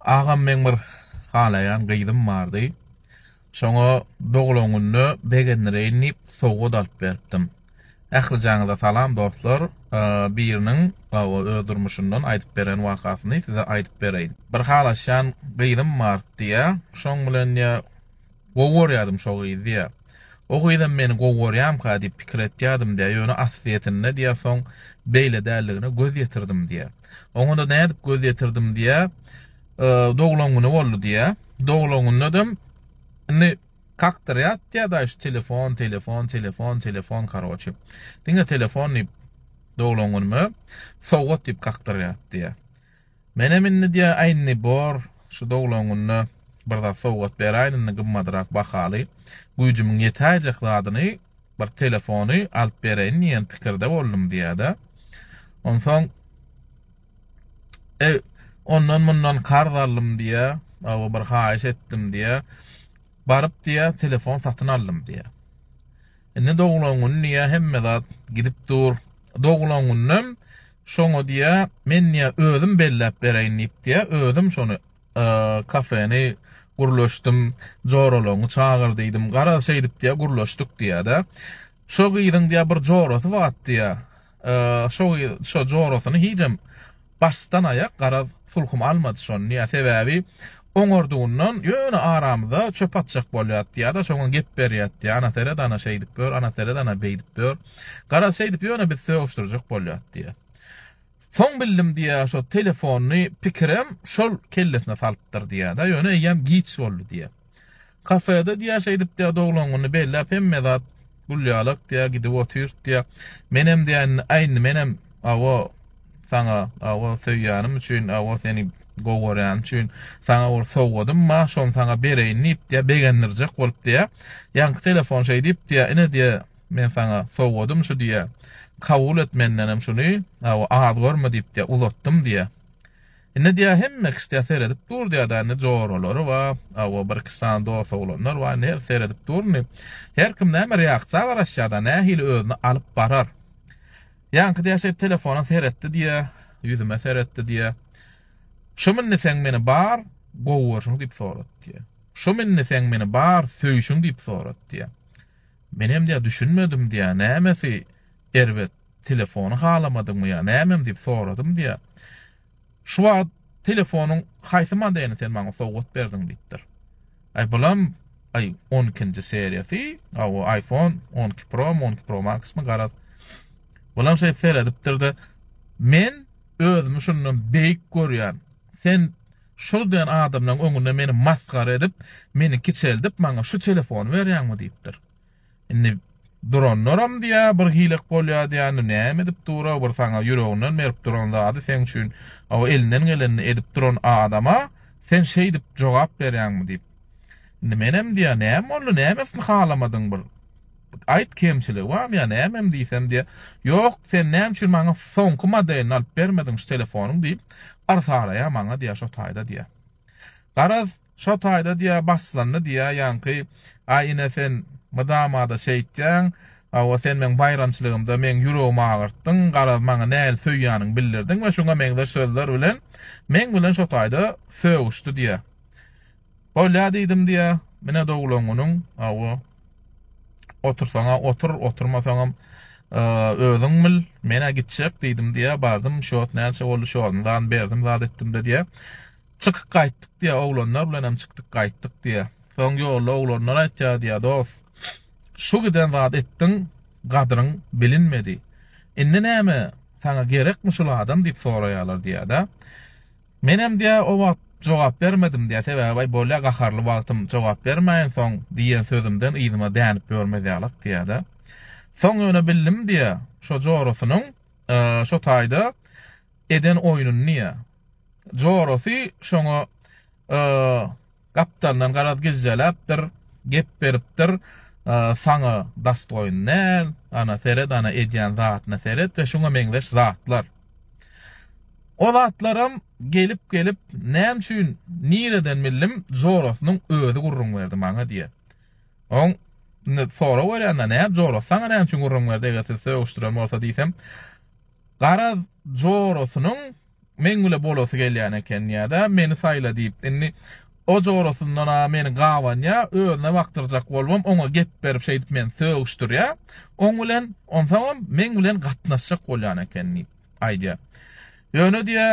Agam meň bir halaýan gyzym bardy. Şoňa doglan günde begendireýin diýip sowgat alyp beripdim. Ählijaňyza salam dostlar. Biriniň öz durmuşyndan aýdyp beren wakasyny size aýdyp bereýin. Bir halaşýan gyzym bar diýýä. Şoň bilen diýýä Gowy görýädim şo gyzy diýýär. O gyzam meni gowy görýämka diýip pikir etýädim diýýär, ýöne aslyýetinde diýýärsoň beýle däldigine göz ýetirdim diýýär. Oňa-da nädip göz ýetirdim diýýär, doglan güni boldy diýýär. Doglan günündem indi kakdyrýar diýýär daýy şu telefon, telefon, telefon, telefon karoçi. Diňe telefon diýip doglan günüme sowgat diýip kakdyrýar diýýär. Menem indi diýä Aýnny bor, şu doglan günde bir zat sowgat beräýin indi gymmadrak bahaly, güýjümiň ýetäýjek zadyny, bir telefony alyp bereýin diýen pikirde boldum diýýär-de. Onsoň Eý, ondan mundan karz aldym diýýär, aw bir haýyş etdim diýýär. Baryp diýýär, telefon satyn aldym diýýär. Indi doglan gün diýýär, hemme zat gidip dur. Doglan günem Şoňa diýýä, men diýýä özüm belläp bereýin diýip diýýä, özüm şony kafeni gürleşdim, joralaryňy çagyr diýdim, garaz şeýdip diýýä gürleşdik diýýä-de. Şo gyzyň diýýä bir jorasy bat diýýä, şo şo jorasyny hijem başdan aýak garaz sulhum almady şony diýýä, sebäbi oňardygyndan ýöne aramyza çöp atjak bolýar diýýä-de, şoňa gep berýär diýýä, ana seret ana şeýdip gör, ana seret ana beýdip gör. Garaz, şeýdip ýöne biz sögüşdirjek bolýas diýýär. Soň bildim diýýär, şo telefony pikirem şol kellesine salypdyr diýýär-de, ýöne eýýäm giç boldy diýýär. Kafede diýýär, şeýdip diýýär, doglan güni belläp hemme zat gülýalak diýýär, gidip otyrt diýýär. Menem diýýär, indi aýndy menem awa saňa, awa söýýänim üçin, awa seni gowy görýänim üçin saňa bir sowgadym bar, şony saňa bereýin diýip diýýär, begendirjek bolup diýýär. Ýaňky telefon şeýdip diýýär, ine diýýär, Men saňa sowgadym şu diýýä. Kabul et mendenem şuny, aw, az görme diýip diýýä, uzatdym diýýä. Indi diýýä, hemme kişi diýýä seredip dur diýýä, da indi joralary bar, aw, bir-iki sany dost-oglanlar bar, indi her seredip dur indi. Her kim näme reaksiýa garaşýar, da nähili özüni alyp barar. Ýaňky diýýä şeýdip telefona seretdi diýýä, ýüzüme seretdi diýýä. Şumy indi sen meni bar gowy görşüň diýip sorady diýýä. Şumy indi sen meni bar söýşüň diýip sorady diýýä. Menem diýýär düşünmedim diýýär nämesi erbet telefony halamadyňmy ýa nämem diýip soradym diýýär. Şu wagt telefonyň haýsy modelini sen maňa sowgat berdiň diýipdir. Aý bulam aý on ikinji seriýasy aw iPhone on iki Pro on iki Pro Maxmy garaz. Bulam şeýdip seredipdirde men özümi şundan beýik görýän. Sen Şul diýen adamlaň öňünde meni masgara edip, meni kiçeldip, maňa şu telefony berýäňmi diýipdir. Indi duranlaram diýä, bir hilek bolýa diýä, indi näme edip dura, bir saňa ýüreginden berip duran zady seň üçin o elinden gelenini edip duran adama sen şeýdip jogap berýäňmi diýip. Menem diýýär, näme boldy, nämesini halamadyň bir aýt kemçiligi barmy ýa nämem diýsem diýýär, ýok sen näme üçin maňa soňky modelini alyp bermediň şu telefonyň diýip yrs araýar maňa diýýär şo taýda diýýär. Garaz şo taýda diýýär başlandy diýýär ýaňky aý ine sen mydama-da şeýtýäň, hawa sen meň baýramçylygymda meň ýüregimi agyrtdyň, garaz maňa nähili söýýäniňi bildirdiň we şuňa meňzeş sözler bilen meň bilen şo taýda sögüşdi diýýär. Bolýa diýdim diýä. Mine doglan günüň, awa. Otursaň-a otur, oturmasaňam özüň bil, men-ä gitjek diýdim diýä. Bardym, şot näçe boldy, şonuň zany berdim, zat etdim-de diýä. Çykyp gaýtdyk diýä, oglanlar bilen hem çykdyk gaýtdyk diýä. Soň ýolda oglanlar aýtýar diýä, dost, şu giden zat etdiň, gadyryň bilinmedi. Indi näme, saňa gerekmi şul adam diýip soraýarlar diýä-de. Menem diýä o wagt jogap bermedim diýä sebäbi baý bolýa gaharly wagtym jogap bermäýin soň diýen sözümden yzyma dänip ýörmez ýalak diýädä. Soň ýöne bildim diýä şo jorasynyň şo taýda eden oýnuny diýä. Jorasy şoňa Gapdaldan garaz gijjeläpdir, gep beripdir, Saňa dastoýn däl, ana, seret, ana, edýän zadyna seret we şuňa meňzeş zatlar. O zatlaram gelip-gelip, näme üçin, nireden bildim, jorasynyň özi gürrüň berdi maňa diýýär. Oň indi sorag berýän-de, näme jorasy saňa näme üçin gürrüň berdi, eger sizi sögüşdiren bolsa diýsem, garaz jorasynyň Meň bile bolasy gelýän eken ýa-da meni saýla diýip, indi o jorasyndan-a meni gabanýa, özüne bakdyrjak bolubam oňa gep berip şeýdip meni sögüşdirýä. Oň bilen, onsoňam meň bilen gatnaşjak bolýan eken diýip aýdýa. Ýöne diýä,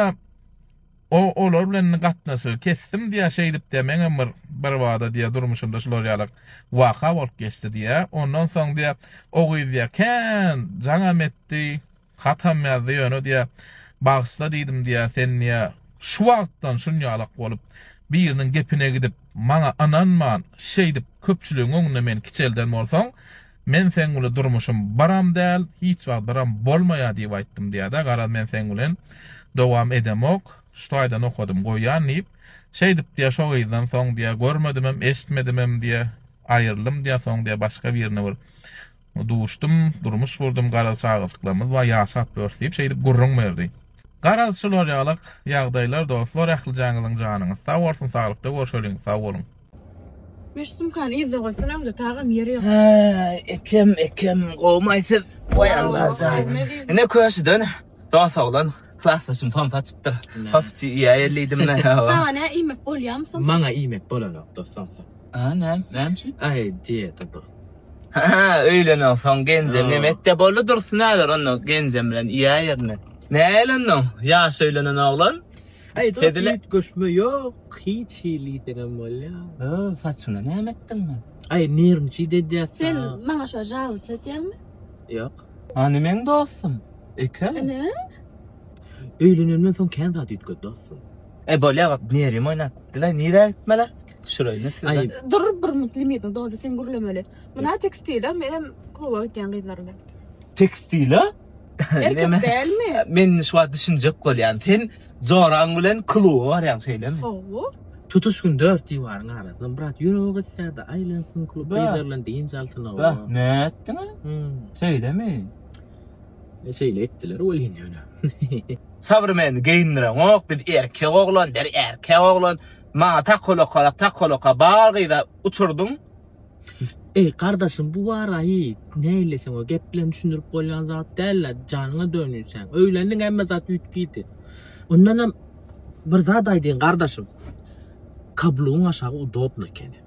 o olar bilen indi gatnaşygy kesdim diýä, şeýdip diýä meňem bir birbada diýä durmuşymda şular ýaly waka bolup geçdi diýä. Ondan soň diýä, o gyz diýä kän jaňam etdi. Hatam ýazdy ýöne diýä, Bagyşla diýdim diýä, sen diýä, şu wagtdan şunýalak bolup, biriniň gepine gidip, maňa ynanman, şeýdip köpçüligiň öňünde meni kiçelden bolsaň, men seň bilen durmuşym biram däl, hiç wagt biram bolmaýar diýip aýtdym diýä-de, garaz men seň bilen dowam edemok, şu taýdan okadym goýýan diýip, şeýdip diýä, şo gyzdan soň diýä, görmedimem, eşitmedimem diýä, aýryldym diýä, soň diýä, başga birine bir. Duşdum, durmuş gurdum, garaz çagajyklarymyz bar, ýaşap ýörüs diýip şeýdip gürrüň berdi. Garaz şular ýalyk ýagdaýlar dostlar ählijaňyzyň janyňyz sag bolsun saglykda görşeliň sag boluň. Meş sumkany yzda goýsana öňde tagam ýeri ýok. Häý ekem ekem gowmy siz. Woý Allah jaýy ine köşüden dos oglan klasdaşym somsa açypdyr. Hop iýäýeli diýdim men. Saňa nä iýmek bolýamy somsa. Maňa iýmek bolanok dos somsa. A, näme, näme üçin? Aý, diýdi Dursun. Hä, öýlenensoň genjem neme etde boldy Dursun äler onda genjem bilen iýä ýerine. Näl onda, ýaş öýlenen oglan. Aý, Dursun üýt göçme ýok, hiç hili diýseňem bolýa. Hä, saçyna näme etdiň? Aý, nirnçit edýäs. Sen maňa şo žalus edýäňmi? Ýok. Hany meň dostum? Eke? Ene? Öýlenenden soň kän zat üýtgedi dostum. E, bolýa, nerwim oýnap gitdiler, nirä gitmeler? Şurayı ne size? Ay. Dur bir minut limitin doldu sen gürlemeli. Mına tekstile menem kluba gitýän gyzlar bilen. Tekstile? Erkek dälmi? Men şu wagt düşünjek bolýan. Sen Zoran bilen kluba barýan şeýlemi? Hawa. Tutuş gün dört diwarın arasynda brat ýüregi gysýardy, aýlansyn klub Ba. gyzlar bilen dynç alsyn o. Bah, ne ettin? Hmm. Şeýlemi? E, Şeýle etdiler welin ýöne. Sabrymeni geýindireňok, biz erkek oglan, der erkek oglan. Maňa takolaka, takolaka, bar gyza uçurdym. Eý, gardaşym, bu waraýy näleseň, o gep bilen düşündirip bolýan zat däl-le, janyňa dönýün sen. Öýlendiň, hemme zat üýtgidi. Ondanam bir zat aýdaýyn, gardaşym, kablugyň aşagy udobno ekeni.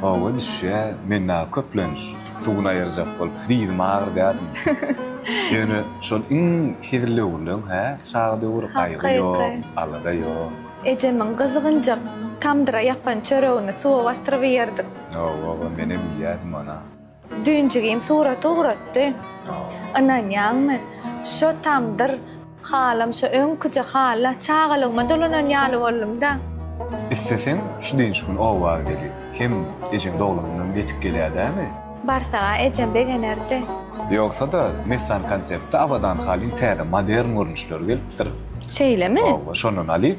Hawa düşýä men dagy köplenç suwuny aýyrjak bolup dyzym agyrdaryn. Ýöne şol iň hezil döwürleň hä çaga döwür gaýgy ýok alada ýok. Ejemiň gyzygynjak tamdyra ýapan çöregini suwa batyryp iýerdik. Hawa hawa menem iýýädim ony. Düýn jigim surat ugratdy. Ynanýaňmy, şo tamdyr halam şo öňküje hala çagalygyma dolanan ýaly boldum-da. Isleseň, şu dynç gün oba gel. Hem ejeň doglanyndan ýetip gelýär dämi? Barsa-a ejem begenerdi. Ýogsa-da, Messan Konseptde Abadan halyň täze, modern görnüşleri gelipdir. Şeýlemi? Hawa, şondan alyp,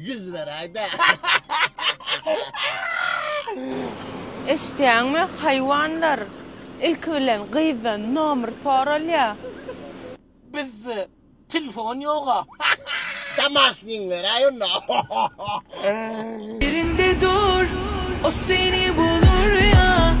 Ýüz beräýdä. Eşitýäňmi, haýwanlar? Ilki bilen gyzdan nomer soralýa. Bizde telefon ýoga. Damasnyň beräý onda. Ýerinde dur, o seni bulur ýa.